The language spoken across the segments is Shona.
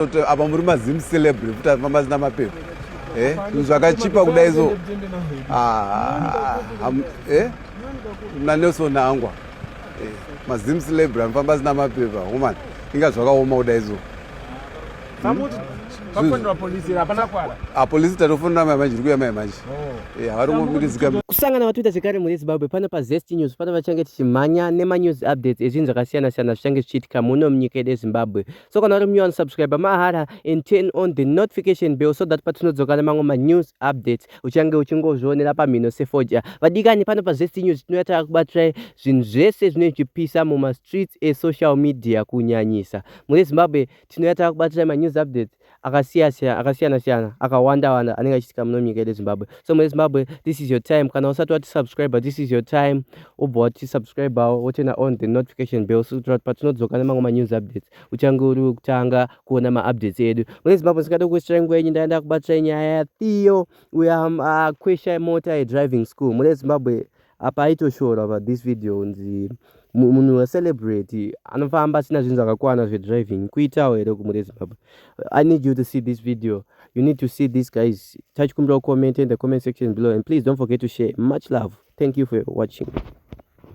apa muri mazim celebre futi afamba zina mapepa eh, zvakachipa kudai so ah, eh, nanelson angwa eh, mazim celebre anofamba zina mapepa homan inga zvakaoma kudai so apolisi tatofonera mai manje iri kuya mai manje oh. eh, havari kungomirizika kusangana vatoita zvekare mune zimbabwe pano pazest news pano vachange tichimhanya nemanews updates ezvinhu zvakasiyana-siyana zvichange zvichiitika muno munyika yedu yezimbabwe so kana uri munyowani subscribe mahara and turn on the notification bell so that patinodzoka nemamwe manews updates uchange uchingozvionera pamhino sefodya vadikani pano pazvest news tinouya takakubatirai zvinhu zvese zvinenge zvichipisa mumastreets esocial media kunyanyisa mune zimbabwe tinouya takakubatirai manews updates akasiyasiyana akasiyana siyana akawanda wanda anenge achiitika muno munyika yedu zimbabwe so mune zimbabwe this is your time kana usati wati subscriber this is your time ubva wati subscribao wotena on the notification bell so kuti patinodzoka nemamwe manews updates uchange uri wekutanga kuona maupdates edu mune zimbabwe singade kukuitirai nguva yenyu ndaenda kubatsira nyaya yathiyo uya um, akwesha mota yedriving school mune zimbabwe apa aitoshora pa this video kunzi munhu wecelebrate anofamba asina zvinhu zvakakwana zvedriving kuitawo here kumuri yezimbabwe i need you to see this video you need to see this guys tachikumbira kucomment in the comment section below and please don't forget to share much love thank you for watching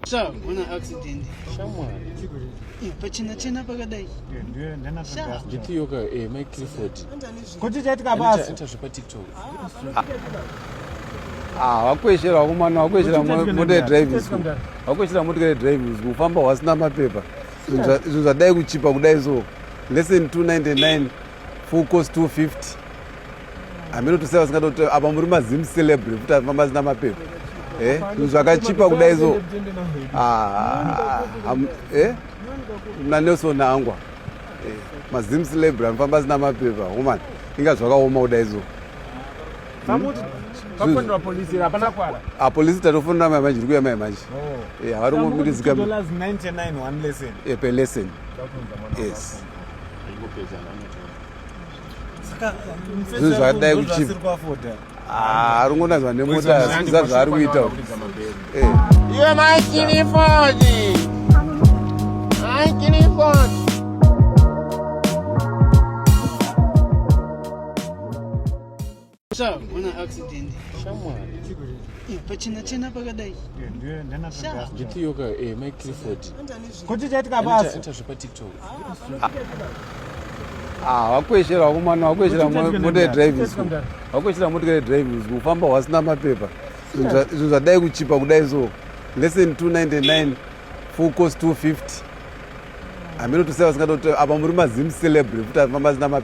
sha una accident shamwari pachena chena pakadai nditiyoka eh, mai clifford Kuti chaitika basa. Ita zvepa TikTok. Ah, wakweshera wakomana wakweshera motor driving school. Wakweshera motor driving school ufamba wasina mapepa. Zvinhu zvadai kuchipa kudai so. Lesson 299 full course 250. Ameno to say wasingada kuti apa muri mazim celebrity futi afamba asina mapepa. Eh, zvinhu zvakachipa kudai so. Ah, eh? Na Nelson Angwa. Eh, mazim celebra anofamba asina mapepa woman inga zvakaoma kuda izo apolisi tatofonera mai manje rikuya mai manje oh. eh, havari kungomirizika eh, per lesson yes zvinhu zvakadai kuchipa Ah, arungonanzwa nemota zviza zvaari kuita eh. iwe maikirifoni maikirifoni Mwana accident. Shamwari. Eh, pachena chena pakadai. Nditiyoka eh, Mike Clifford. Kuti chaitika basi. Ita zvepa TikTok. Ah, wakweshera wakomana wakweshera motor driving school. Wakweshera motor driving school ufamba wasina mapepa. Zvinhu zvadai kuchipa kudai so. Lesson 299 full cost 250. Ameno tuseva singado apa muri mazim celebrity futi afamba asina mapepa.